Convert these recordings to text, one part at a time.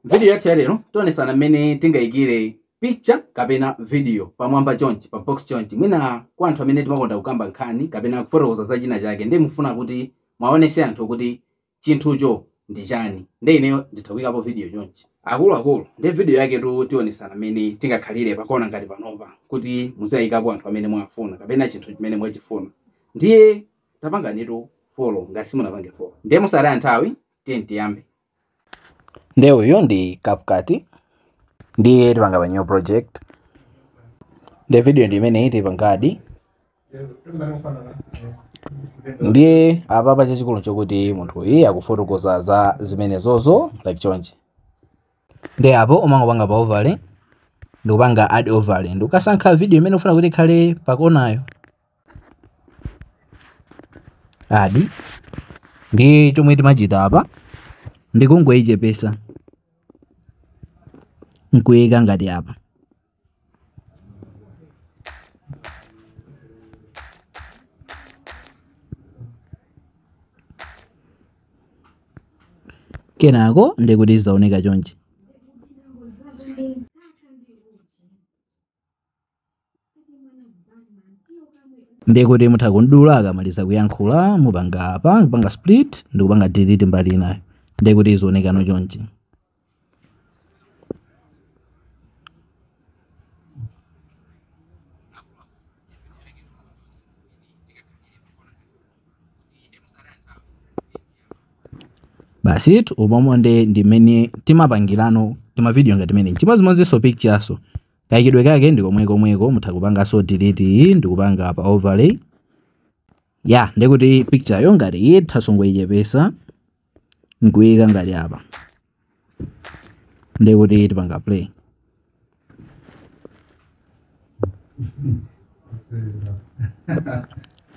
Video yathu ya lero tionesana mmene tingayikire picture kapena video pamwamba chonchi pa box chonchi mwina kwa anthu amene timakonda kukamba nkhani kapena kufotokoza za china chake ndiye mufuna kuti mwaonese anthu kuti chinthucho ndi chani ndiye ineyo nditha kuyikapo video chonchi akuluakulu ndiye video yake tu tionesana mmene tingakhalire pakona ngati panopa kuti muziwayikapo anthu amene mwafuna kapena chinthu chimene mwachifuna ndiye tapanganitu follow ngati simunapange follow ndiye mosataya nthawi tiye tiyambe nde uyu ndi CapCut ndiye tipanga pa new project nde video ndi imeneyi tipangadi ndiye apapa chachikulu chokuti munthu uyu akufotokoza za zimenezozo like chonchi nde apo umangopanga pa overlay ndikupanga add overlay ndikukasankha video imene ufuna kuti ikhale pakonayo add nde chomwe timachita apa ndikungoyichepesa nkuyika ngati apa kenako ndekuti zaoneka chonchi ndekuti mutha kumdula akamaliza kuyankhula mupanga apa kupanga split ndikupanga delete mbali inayo ndekuti izionekano chonchi basi umomo nde ndi mmene timapangirano timavidiyo ngati timeneti chimodzimodzinso picture-nso kayikidwe kake ndi komwekomweko mutha kupanganso delete iyi ndikupanga pa overlay ya ndekuti picture yo ngati iyi tizangoyichepesa nkuyika ngati apa ndekuti tipanga play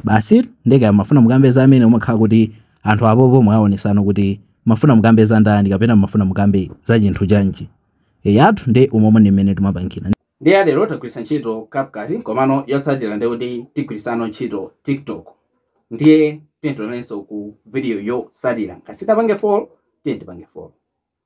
basi ndeka mafuna mukambe za amene umakhala kuti anthu apopo mwaonesano kuti mafuna mukambe za ndani kapena mafuna mukambe za chinthu chanji eyatu nde umomo ndi mmene timapangira nde ya lero tagwiritsa ntchito CapCut komano yotsatira ndiye kuti tigwirisano ntchito tiktok ndiye tiyeni tionanenso ku video yotsatira ngati sitapange follow tiyeni tipange follow